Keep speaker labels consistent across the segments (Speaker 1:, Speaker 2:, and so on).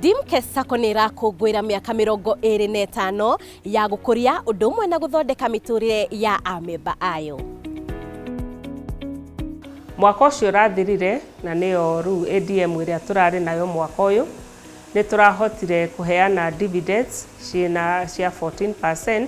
Speaker 1: Dimke Sacco nä ĩrakũngũĩra mĩaka mĩrongo ĩrĩ na ĩtano ya gũkũria ũndũ ũmwe na gũthondeka mĩtũrĩre ya amemba ayo. Mwaka ũcio ũrathirire na nĩyo rĩu ADM ĩrĩa tũrarĩ nayo mwaka ũyũ, nĩ tũrahotire kũheana dividends ciĩna cia 14%,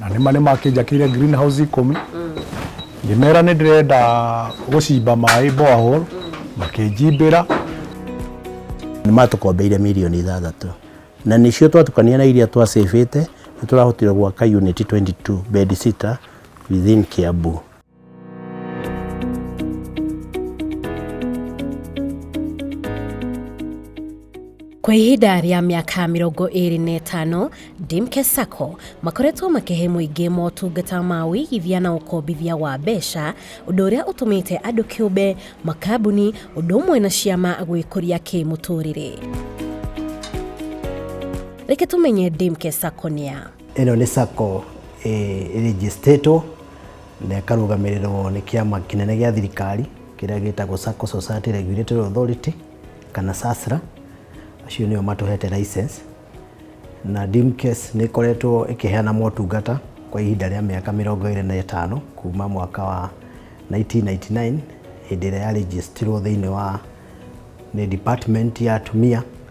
Speaker 1: na nĩma nĩ makĩnjakĩire green house ikũmi ngĩmera nĩ ndĩrenda gũcimba maĩ borehole makĩnjimbĩra nĩ matũkombeire mirioni ithathatũ na nĩcio twatukania na iria twacĩbĩte nĩ tũrahotire gwaka unit 22 bed sitter within Kiambu. kwa ihinda rĩa mĩaka mĩrongo ĩrĩ na ĩtano dimke sacco makoretwo makĩhe mũingĩ motungata ma ũigithia na ũkombithia wa mbeca ũndũ ũrĩa ũtũmĩte andũ kĩũmbe makambuni ũndũ ũmwe na ciama gwĩkũria kĩmũtũrĩre reke tũmenye dimke sacco nĩa Ĩno nĩ sacco ĩrĩnjĩcitĩtwo na ĩkarũgamĩrĩrwo nĩ kĩama kĩnene gĩa thirikari kĩrĩa gĩtagwo Sacco Society Regulatory Authority kana SASRA, acio nĩo matũhete license na Dimcase nĩ ĩkoretwo ĩkĩheana motungata kwa ihinda rĩa mĩaka mĩrongo ĩrĩ na ĩtano kuma mwaka wa 1999 hĩndĩ ĩrĩa ya registerirwo thĩinĩ wa nĩ department ya atumia.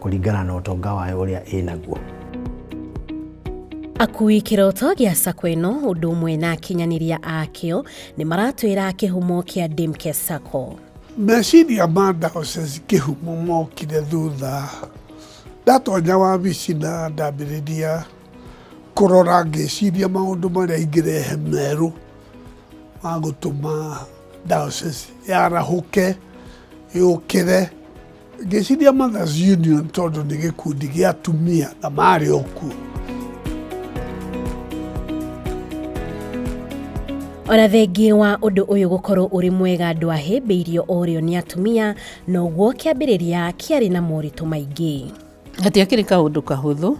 Speaker 1: kũringana na ũtonga wayo ũrĩa ĩnaguo. Akui kĩroto gĩa sacco ĩno ũndũ ũmwe na akinyanĩria akĩo nĩ maratwĩra kĩhumo kĩa Dimke Sacco. Meciria ma Diocese kĩhumo mokire thutha ndatonya wabici na ndambĩrĩria kũrora ngĩciria maũndũ marĩa ingĩrehe merũ ma gũtũma Diocese yarahũke yũkĩre Ngĩciria Mothers Union tondũ nĩ gĩkundi gĩa atumia na marĩ o kuo. ona thengi wa ũndũ ũyũ gũkorwo ũrĩ mwega andũ ahĩmbĩirio ũrĩo nĩ atumia noguo kĩambĩrĩria kĩarĩ na moritũ maingĩ gatiakĩrĩ kaũndũ kahũthũ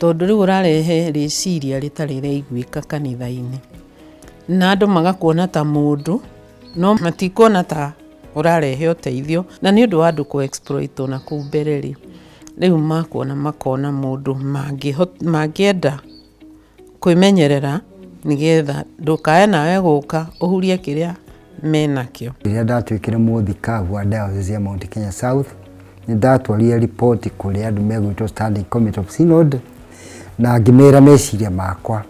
Speaker 1: tondũ rĩu ũrarehe rĩciria rĩtarĩ rĩaiguĩka kanitha-inĩ na andũ magakuona ta mũndũ no matikuona ta ũrarehe ũteithio na nĩ ũndũ wa andũ kũ exploit o na kũu mbere rĩ, rĩu makuona makona mũndũ mangĩenda kwĩmenyerera nĩ getha ndũkae nawe gũka ũhurie kĩrĩa menakĩo. Rĩrĩa ndatuĩkire mũthikabu wa Diocese ya Mount Kenya South, nĩ ndatwarire report kũrĩ andũ megwĩtwo Standing Committee of Synod na ngĩmera meciria makwa.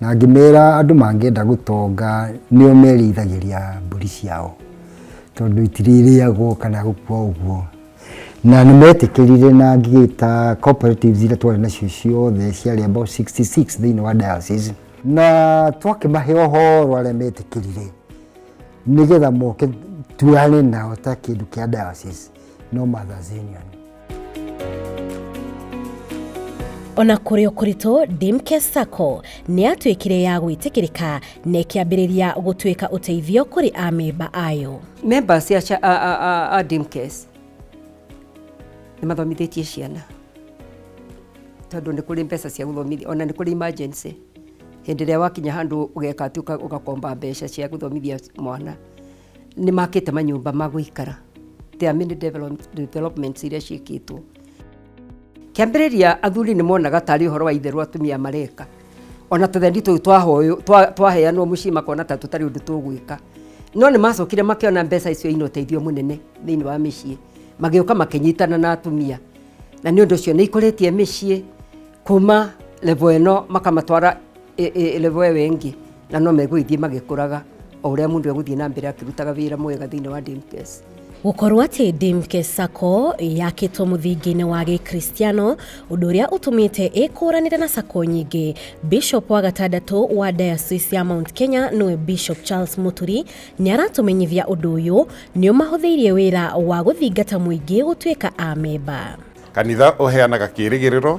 Speaker 1: Na ngĩmera andũ mangĩenda gũtonga nĩo merĩithagĩria mbũri ciao tondũ itirĩrĩagwo kana gũkua ũguo. Na nĩ metĩkĩrire na ngĩgĩta cooperatives iria twarĩ nacio ciothe ciarĩ about 66 thĩinĩ wa diocese. Na twakĩmahe ũhoro arĩa metĩkĩrire nĩgetha moke tuoyane nao ta kĩndũ kĩa diocese no Mothers Union. ona kũrĩ o kũritũ dimke sacco nĩ yatuĩkire ya gwĩtĩkĩrĩka na ĩkĩambĩrĩria gũtuĩka ũteithio kũrĩ amemba ayo memba cia cha- a- a- a- a dimkes nĩ mathomithĩtie ciana tondũ nĩ kũrĩ mbeca cia gũthomithia ona nĩ kũrĩ emergency hĩndĩ ĩrĩa wakinya handũ ũgeka atĩ ũka- ũgakomba mbeca cia gũthomithia mwana Nĩ makĩte manyũmba ma gũikara. There are many develop- developments iria ciĩkĩtwo. Kĩambĩrĩria athuri nĩ monaga tarĩ ũhoro wa itherũ atumia mareka. Ona tũthendi tũu twahoyũ- twa- twaheanwo mũciĩ makona ta tũtarĩ ũndũ tũgwĩka. No nĩ macokire makĩona mbeca icio ina ũteithio mũnene thĩinĩ wa mĩciĩ. Magĩũka makĩnyitana na atumia. Na nĩ ũndũ ũcio nĩ ikũrĩtie mĩciĩ kuma level ĩno makamatwara level ĩyo ĩngĩ na no megũgĩthiĩ magĩkũraga o ũrĩa mũndũ egũthiĩ na mbere akĩrutaga wĩra mwega thĩinĩ wa DMKS. Gũkorwo atĩ Dimke Sacco yakĩtwo mũthingi-inĩ wa gĩkristiano ũndũ ũrĩa ũtũmĩte ĩkũranĩre na sacco nyingĩ. Bishop wa gatandatũ wa Diocese ya Mount Kenya nĩwe Bishop Charles Muturi nĩ aratũmenyithia ũndũ ũyũ nĩ ũmahũthĩirie wĩra wa gũthingata mũingĩ gũtuĩka a memba. Kanitha ũheanaga kĩĩrĩgĩrĩro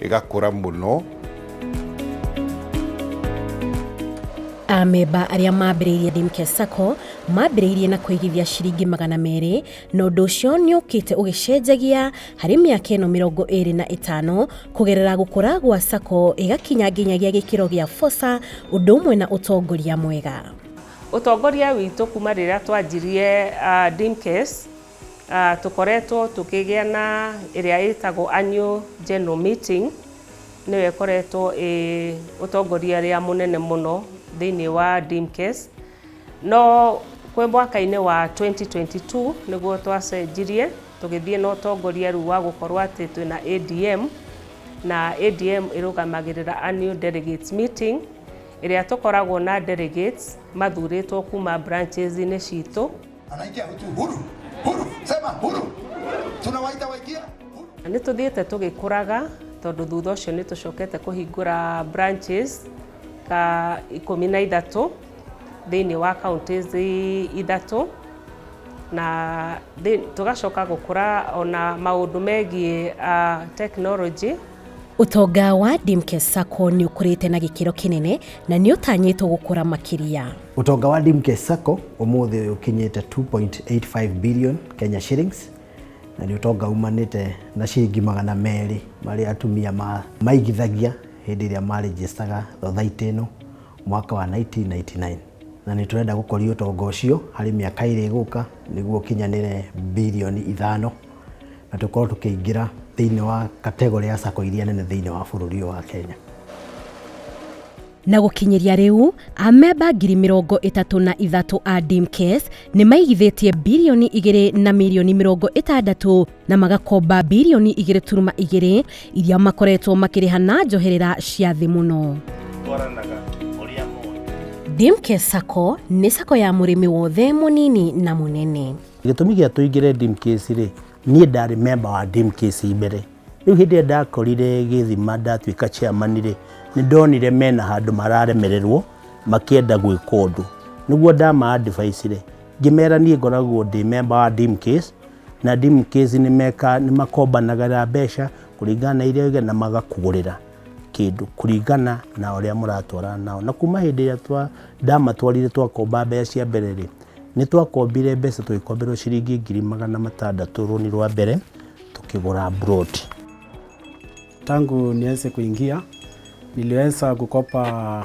Speaker 1: ĩgakũra mũno. Amemba arĩa mambĩrĩirie Dimke Sacco mambĩrĩirie na kũigithia ciringi magana merĩ na ũndũ ũcio nĩ ũkĩte ũgĩcenjagia harĩ mĩaka ĩno mĩrongo ĩrĩ na ĩtano kũgerera gũkũra gwa Sacco ĩgakinya nginyagia gĩkĩro gĩa Fosa ũndũ ũmwe na ũtongoria mwega. Ũtongoria witũ kuma rĩrĩa twanjirie uh, Dimkes Tũkoretwo tũkĩgĩa na ĩrĩa ĩtagwo annual general meeting, nĩyo ĩkoretwo ĩĩ ũtongoria ũrĩa mũnene mũno thĩinĩ wa Dimcase, no kwĩ mwaka-inĩ wa twenty twenty two nĩguo twacenjirie tũgĩthiĩ na ũtongoria rĩu wa gũkorwo atĩ twĩna ADM, na ADM ĩrũgamagĩrĩra annual delegates meeting, ĩrĩa tũkoragwo na delegates mathurĩtwo kuma branches -inĩ citũ. Anaikia hutu huru huru, sema huru, tunawaita waikia huru. Na nĩ tũthiĩte tũgĩkũraga tondũ thutha ũcio nĩ tũcokete kũhingũra branches ta ikũmi na ithatũ thĩinĩ wa counties ithatũ na thĩ- tũgacoka gũkũra ona maũndũ megiĩ ah, technology Ũtonga wa Dimkes Sacco nĩ ũkũrĩte na gĩkĩro kĩnene na nĩ ũtanyĩtwo gũkũra makĩria. Ũtonga wa Dimkes Sacco ũmũthĩ ũyũ ũkinyĩte 2.85 billion Kenya shillings na nĩ ũtonga umanĩte na ciringi magana merĩ marĩa atumia ma- maigithagia hĩndĩ ĩrĩa marĩnjĩstaga thothaitĩ ĩno mwaka wa 1999 na nĩ tũrenda gũkũria ũtonga ũcio harĩ mĩaka ĩrĩ ĩgũka nĩguo ũkinyanĩre bilioni ithano na tũkorwo tũkĩingĩra thĩinĩ wa kategorĩ ya sacco iria nene thĩinĩ wa bũrũri ũyũ wa Kenya. Na gũkinyĩria rĩu, amemba ngiri mĩrongo ĩtatũ na ithatũ a DIMCAS nĩ maigithĩtie birioni igĩrĩ na mirioni mĩrongo ĩtandatũ na magakomba birioni igĩrĩ turuma igĩrĩ iria makoretwo makĩrĩha na njoherera cia thĩ mũno. DIMCAS sacco nĩ sacco ya mũrĩmi wothe mũnini na mũnene. Gĩtũmi gĩa tũingĩre Dimcase rĩ, niĩ ndarĩ memba wa Dimcase mbere. Rĩu hĩndĩ ĩrĩa ndakorire gĩthima ndatuĩka chairman rĩ, nĩ ndonire mena handũ mararemererwo makĩenda gwĩka ũndũ. Nĩguo ndama advice rĩ, ngĩmera niĩ ngoragwo ndĩ memba wa Dimcase, na Dimcase nĩ makombanagĩra mbeca kũringana na iria na magakũgũrĩra. kĩndũ kũringana na ũrĩa mũratwarana nao. Na kuma hĩndĩ ĩrĩa twa, ndamatwarire twakomba mbeca cia mbere rĩ, nĩ twakombire mbeca tũgĩkomberwo ciringi ngiri magana matandatũ rũni rwa mbere tũkĩgũra plot. Tangu nianze kuingia niliweza kukopa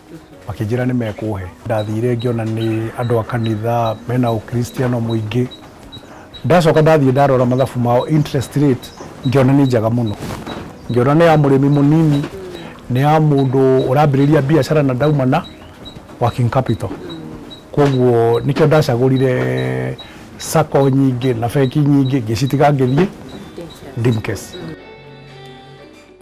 Speaker 1: makĩnjĩra nĩ mekũhe ndathire ngĩona nĩ andũ a kanitha mena ũkristiano mũingĩ ndacoka ndathiĩ ndarora mathabu mao interest rate ngĩona nĩ njega mũno ngĩona nĩ ya mũrĩmi mũnini nĩ ya mũndũ ũrambĩrĩria biacara na ndaumana working capital koguo nĩkĩo ndacagũrire sako nyingĩ na bengi nyingĩ ngĩcitiga ngĩthiĩ dimkes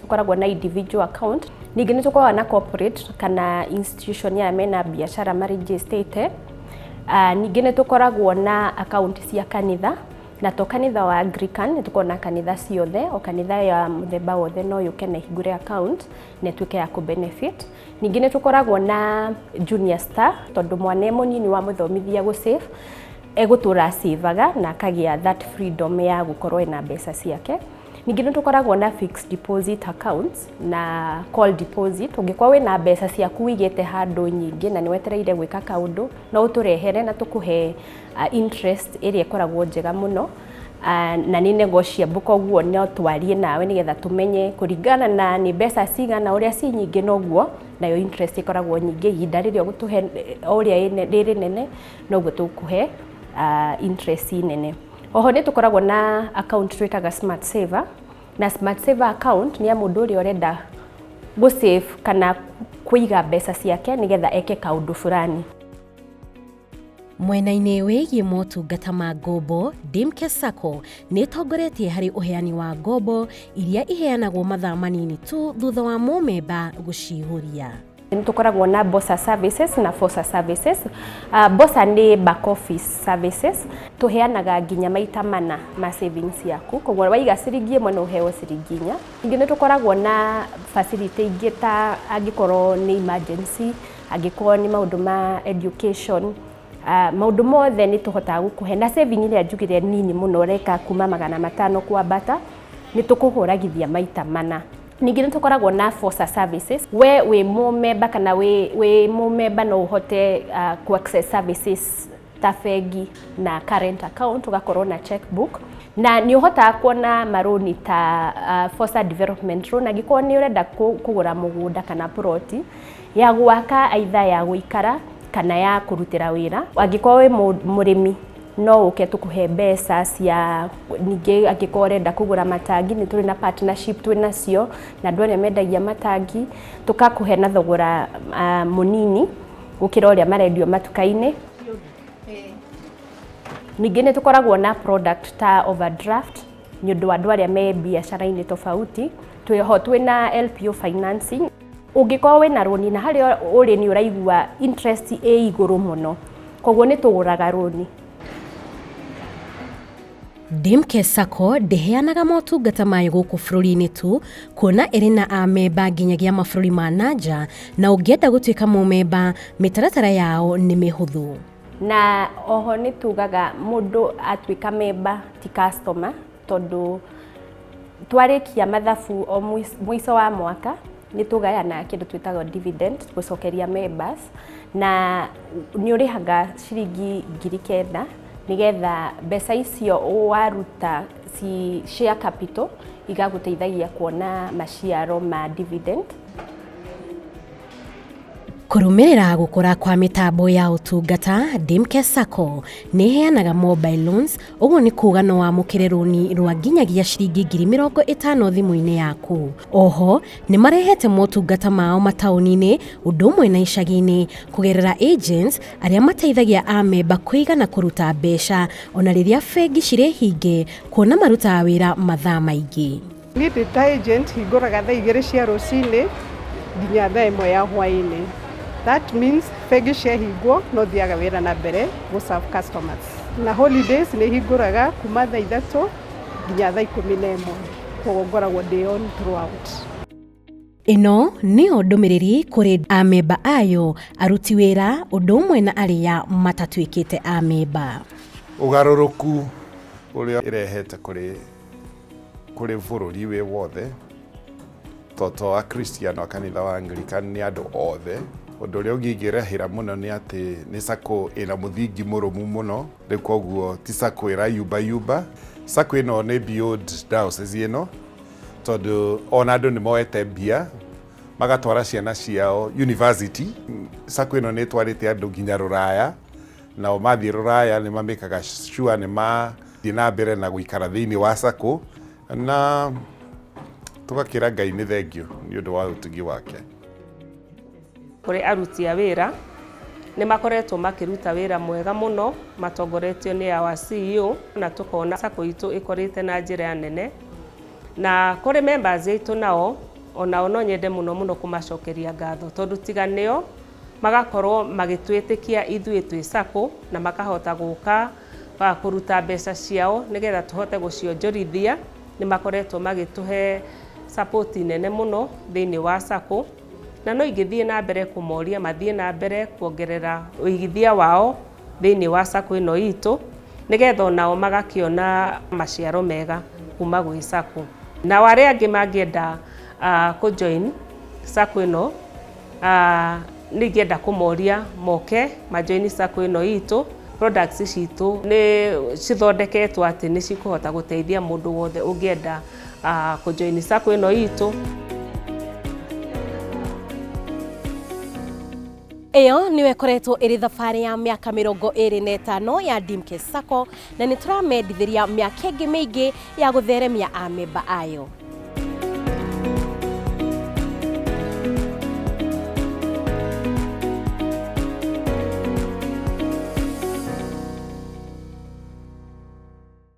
Speaker 1: tũkoragwo na individual account ningĩ nĩ tũkoragwo na corporate kana institution ya mena biacara marĩnjĩstĩte Ah, ningĩ nĩ tũkoragwo na akaunti cia kanitha na to kanitha wa Anglican nĩ tũkoragwo na kanitha ciothe o kanitha ya mũthemba wothe no yũke na ĩhingũre account na ĩtuĩke ya kũ benefit ningĩ nĩ tũkoragwo na junior star tondũ mwana e mũnyinyi wa mũthomithia gũ save egũtũra acĩvaga na akagĩa that freedom ya gũkorwo ena mbeca ciake Ningĩ nĩ tũkoragwo na fixed deposit accounts na call deposit. Ũngĩkorwo wĩna mbeca ciaku wĩigĩte handũ nyingĩ na nĩ wetereire gwĩka kaũndũ, no ũtũrehere na tũkũhe interest ĩrĩa ĩkoragwo njega mũno na nĩ negotiable koguo no twarie nawe nĩgetha tũmenye kũringana na nĩ mbeca cigana, ũrĩa ciĩ nyingĩ noguo nayo interest ĩkoragwo nyingĩ. Ihinda rĩrĩa ũgũtũhe o ũrĩa rĩ rĩnene noguo tũkũhe interest nene. Oho nĩ tũkoragwo na account twĩtaga Smart Saver, na Smart Saver account nĩ ya mũndũ ũrĩa ũrenda gũ save kana kũiga mbeca ciake nĩgetha eke kaũndũ fulani. Mwena-inĩ wĩgiĩ motungata ma ngombo, Dimke Sacco nĩ ĩtongoretie harĩ ũheani wa ngombo iria iheanagwo mathaa manini tu thutha wa mũmemba gũcihũria. nĩ tũkoragwo na bosa services na fosa services uh, bosa nĩ back office services tũheanaga nginya maita mana ma savings yaku koguo waiga ciringi ĩmwe no ũheo ciringi inya ningĩ nĩ tũkoragwo na facility ingĩ ta angĩkorwo nĩ emergency angĩkorwo nĩ maũndũ ma education uh, maũndũ mothe nĩ tũhotaga gũkũhe na saving ĩrĩa njugire nini mũno ũreka kuma magana matano kwambata nĩ tũkũhũragithia maita mana Ningĩ nĩ tũkoragwo na FOSA services. We wĩ mũmemba kana wĩ, wĩ mũmemba no ũhote uh, ku access services ta bengi na current account ũgakorwo na checkbook na nĩ ũhotaga kuona marũni ta uh, FOSA development loan angĩkorwo nĩ ũrenda kũgũra mũgũnda kana ploti ya gwaka aitha ya gũikara kana ya kũrutĩra wĩra angĩkorwo wĩ mũrĩmi no ũke tũkũhe mbeca cia ningĩ angĩkorwo ũrenda kũgũra matangi nĩ tũrĩ na partnership twĩ nacio na andũ arĩa mendagia matangi tũkakũhe na thogora ah, mũnini gũkĩra ũrĩa marendio matuka-inĩ ningĩ nĩ tũkoragwo na product ta overdraft nĩ ũndũ wa andũ arĩa me biacara-inĩ tofauti twĩho twĩ na LPO financing Ũngĩkorwo wĩna rũni na harĩa ũrĩ nĩ ũraigua interest ĩ igũrũ mũno, koguo nĩ tũgũraga rũni. Dimke Sacco ndĩheanaga motungata mayo gũkũ bũrũri-inĩ tu, kuona ĩrĩ na amemba nginyagia mabũrũri ma na nja, na ũngĩenda gũtuĩka mũmemba, mĩtaratara yao nĩ mĩhũthũ. Na oho nĩ tugaga mũndũ atuĩka memba ti customer. tondũ twarĩkia mathabu o mũico wa mwaka nĩ tũgayanaga kĩndũ twĩtaga dividend gũcokeria members na nĩ ũrĩhaga ciringi ngiri kenda nĩgetha mbeca icio waruta ci share capital igagũteithagia kuona maciaro ma dividend. Kũrũmĩrĩra gũkũra kwa mĩtambo ya ũtungata, Dimke Sacco nĩ ĩheanaga mobile loans, ũguo nĩ kuuga no wamũkĩre rũni rwa nginyagia ciringi ngiri mĩrongo ĩtano thimũ-inĩ yaku. Oho nĩ marehete motungata mao mataũni-inĩ ũndũ ũmwe na icagi-inĩ kũgerera agents arĩa mateithagia amemba kũiga na kũruta mbeca ona rĩrĩa bengi cirĩ hinge kuona marutaga wĩra mathaa maingĩ. Niĩ ndĩ ta agent hingũraga thaa igĩrĩ cia rũcinĩ nginya thaa ĩmwe ya hwainĩ. That means bengi ciahingwo no thiaga wĩra na mbere gũ serve customers. Na holidays nĩ hingũraga kuma thaa ithatũ nginya thaa ikũmi na ĩmwe. Koguo ngoragwo ndĩ on throughout. Ĩno nĩyo ndũmĩrĩri kũrĩ amemba ayo, aruti wĩra, ũndũ ũmwe na arĩa matatuĩkĩte amemba. Ũgarũrũku ũrĩa ĩrehete kũrĩ kũrĩ bũrũri wĩ wothe, to to Akristiano a kanitha wa Anglican nĩ andũ othe. Ũndũ ũrĩa ũngĩ ingĩrahĩra mũno nĩ atĩ nĩ sacco ĩna mũthingi mũrũmu mũno, rĩu koguo ti sacco ĩrayumba yumba. Sacco ĩno nĩ beyond diocese ĩno. tondũ ona andũ nĩ moete mbia magatwara ciana ciao university sako ĩno nĩ ĩtwarĩte andũ nginya rũraya nao mathiĩ rũraya nĩ mamĩkaga sure nĩ mathiĩ na mbere na gũikara thĩinĩ wa sako na tũgakĩra ngai nĩ thengio nĩ ũndũ wa ũtugi wake Kũrĩ aruti a wĩra, nĩ makoretwo makĩruta wĩra mwega mũno matongoretio nĩ our CEO na tũkona sacco itũ ĩkũrĩte na njĩra nene. Na kũrĩ members aitũ nao, onao no nyende mũno mũno kũmacokeria ngatho tondũ tiga nĩo, magakorwo magĩtwĩtĩkia ithuĩ twĩ sacco na makahota gũka kũruta mbeca ciao nĩgetha tũhote gũcionjorithia. Nĩ makoretwo magĩtũhe support nene mũno thĩinĩ wa sacco. Na no ingĩthiĩ na mbere kũmoria mathiĩ na mbere kuongerera ũigithia wao thĩinĩ wa sacco ĩno itũ, nĩgetha onao magakĩona maciaro mega kuma gwĩ sacco. Nao arĩa angĩ mangĩenda kũ join sacco ĩno, nĩ ingĩenda kũmoria moke ma join sacco ĩno itũ. Products citũ nĩ cithondeketwo atĩ nĩ cikũhota gũteithia mũndũ wothe ũngĩenda. ah, kå join sacco ä no itå ĩyo nĩyo ĩkoretwo ĩrĩ thabarĩ ya mĩaka mĩrongo ĩrĩ na ĩtano ya Dimke Sacco na nĩ tũramendithĩria mĩaka ĩngĩ mĩingĩ ya gũtheremia amemba ayo.